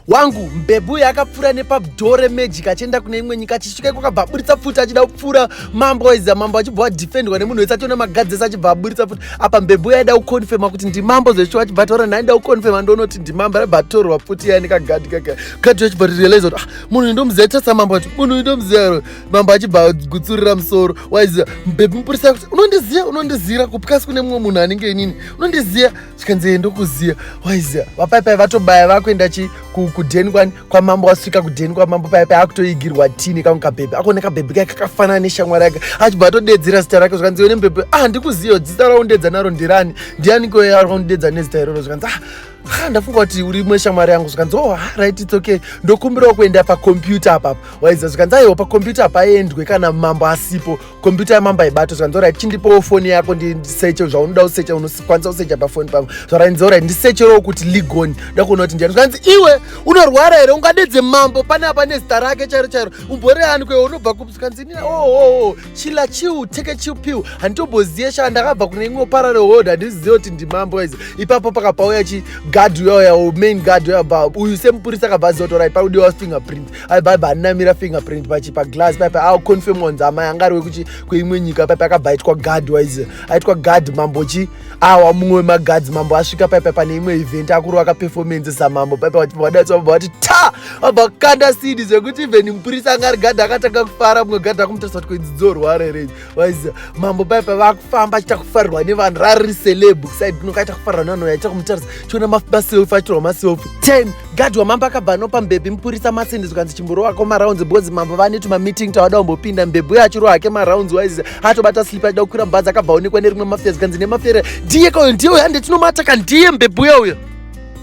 wangu mbebhu uyo akapfuura nepabdoo remajik achienda kune imwe nyika achisvika iko akabva aburitsa pfuti achida kupfuura mambo waiziva mambo achibva wadefendwa nemunhu wese ationa magadzi ese achibva aburitsa pfuti apa mbebhu uyo aida kuconfirma kuti ndimambo zvesho achibva ataura nhai nda kuconfirma ndonoti ndimambo aibva atorwa pfuti iya nekagadhi kaka gadhi achibva tirealize kuti ah, munhu uyu ndomuziva tasa mambo ati munhu uyu ndomuziva mambo achibva agutsurira musoro waiziva mbebhu mupurisa kuti unondiziva unondizira kupikasi kune mumwe munhu anenge inini unondiziva zvikanzi ndokuziva waiziva vapaipai vatobaya vakuenda chi kudheni kwani kwamambo wasvika kudheni kwamambo paipai akutoigirwa tii nekamwe kabhebhi akone kabhebhi kai kakafanana neshamwari yake achibva atodedzera zita rake zvikanzi one mbhebhi ah ndikuziva zita raundedza naro ndirani ndiani koyaundedza nezita iroro zvikanzi ah ha ndafunga kuti uri imwe shamwari yangu zvikanzi oh right its okay ndokumbirawo kuenda pakompyuta apapa waiziva zvikanzi aiwa pakompyuta apaendwe kana mambo asipo kombiyuta yamambo haibato zvanzi orit chindipowo foni yako ndiseche zvaunoda kuseche unokwanisa kusecha pafoni pavo zvaranzi orit ndisecherewo kuti ligoni nda kuona kuti ndiani zvanzi iwe unorwara here ungadedze mambo pane apa nezita rake chairo chairo umboreani kwewe unobva kupi zvikanzi inini oooo oh, oh, oh, chila chiu teke chiu piu handitomboziye shaa ndakabva kune imwe parare hold handizive kuti ndimambo waizi ipapo pakapauya chi gad uyauya main gad uyabva uyu semupurisa akabva aziva kuti orit pakudiwa fingerprint aibhaibha aninamira fingerprint pachi paglass paipe aconfirm wanzi amai anga ari wekuchi kweimwe nyika paipe akabva aitwa guard wise aitwa guard mambo chi awa mumwe wemaguards mambo asvika paipe pane imwe event akuru vakaperformance samambo paipe vadaitsa vabva vati ta vabva kukanda sidi zvekuti even mupurisa anga ari gadha akatanga kufara mumwe gadha akumutariswa kuti kwedzidzorwa rerei waiziva mambo pai pavakufamba achiita kufarirwa nevanhu rari celeb said noka aita kufarirwa nevanhu aita kumutaridza chiona maselfi achitorwa maselfi ten gadhi wamambo akabva anopa mbebhi mupurisa masindi zvikanzi chimborowako marounds because mambo vanetu mameeting tawada kumbopinda mbebhi uye achirowa hake marounds waiziva atobata slip achida kukwira mubhazi akabva onekwa nerimwe mafia zvikanzi nemafere ndiye kauyo ndiye uyo hande tinomata ka ndiye mbebhi uya uyo